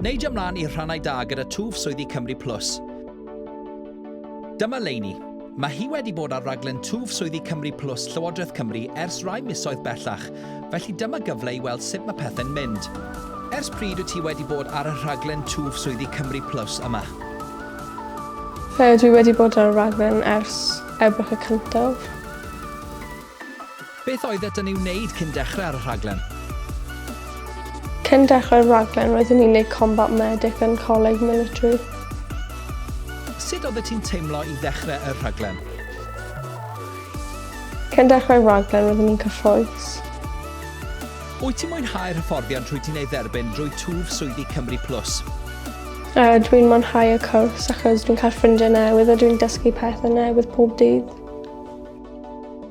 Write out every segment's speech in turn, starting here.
Neidio mlaen i'r rhannau da gyda twf swyddi Cymru Plus. Dyma Leini. Mae hi wedi bod ar raglen twf swyddi Cymru Plus Llywodraeth Cymru ers rai misoedd bellach, felly dyma gyfle i weld sut mae pethau'n mynd. Ers pryd wyt ti wedi bod ar y rhaglen twf swyddi Cymru Plus yma? Dwi wedi bod ar y rhaglen ers Ebrill y cyntaf. Beth oeddet yn ei wneud cyn dechrau ar y rhaglen? Cyn dechrau'r rhaglen roeddwn i'n neud Combat Medic yn Coleg Military. Sut oeddet ti'n teimlo i ddechrau y rhaglen? Cyn dechrau'r rhaglen roeddwn i'n cyffrous. Wyt ti'n mwynhau'r hyfforddiant rwyt ti'n ei dderbyn drwy twf swyddi Cymru Plus? Uh, dwi'n mwynhau y cwrs achos dwi'n cael ffrindiau newydd a dwi'n dysgu pethau newydd pob dydd.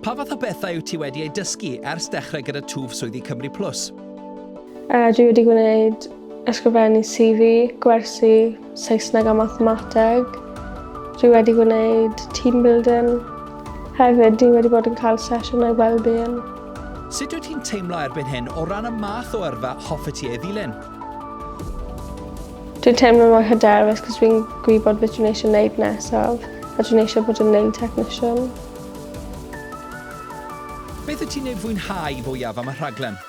Pa fath o bethau wyt ti wedi eu dysgu ers dechrau gyda twf swyddi Cymru Plus? Uh, dwi wedi gwneud ysgrifennu CV, gwersi, Saesneg a mathemateg. Dwi wedi gwneud team building. Hefyd, dwi wedi bod yn cael sesiynau well-being. Sut wyt ti'n teimlo erbyn hyn o ran y math o yrfa hoffet ti ei ddilyn? Dwi'n teimlo mor hyderus cos fi'n gwybod beth dwi'n eisiau wneud nesaf a dwi'n eisiau bod yn nail technician. Beth y ti'n ei fwynhau fwyaf am y rhaglen?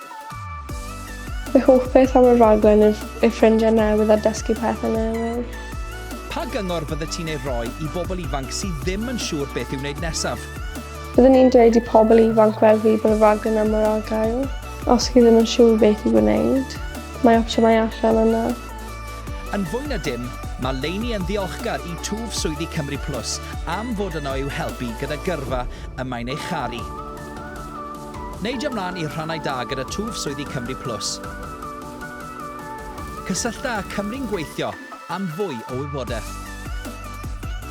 Fy hoff beth am y rhaglen yw ei ffrindiau newydd a dysgu pethau newydd. Pa gyngor fydde ti'n ei roi i bobl ifanc sydd ddim yn siŵr beth i'w wneud nesaf? Byddwn i'n dweud i pobl ifanc fel fi bod y rhaglen am yr argael. Os chi ddim yn siŵr beth i wneud, mae opsiynau allan yna. Yn fwy na dim, mae Lainey yn ddiolchgar i twf swyddi Cymru Plus am fod yno i'w helpu gyda gyrfa y mae'n ei charu. Neidio mlaen i rhannau da gyda twf swyddi Cymru Plus. Cysyllta â Cymru'n Gweithio am fwy o wybodaeth.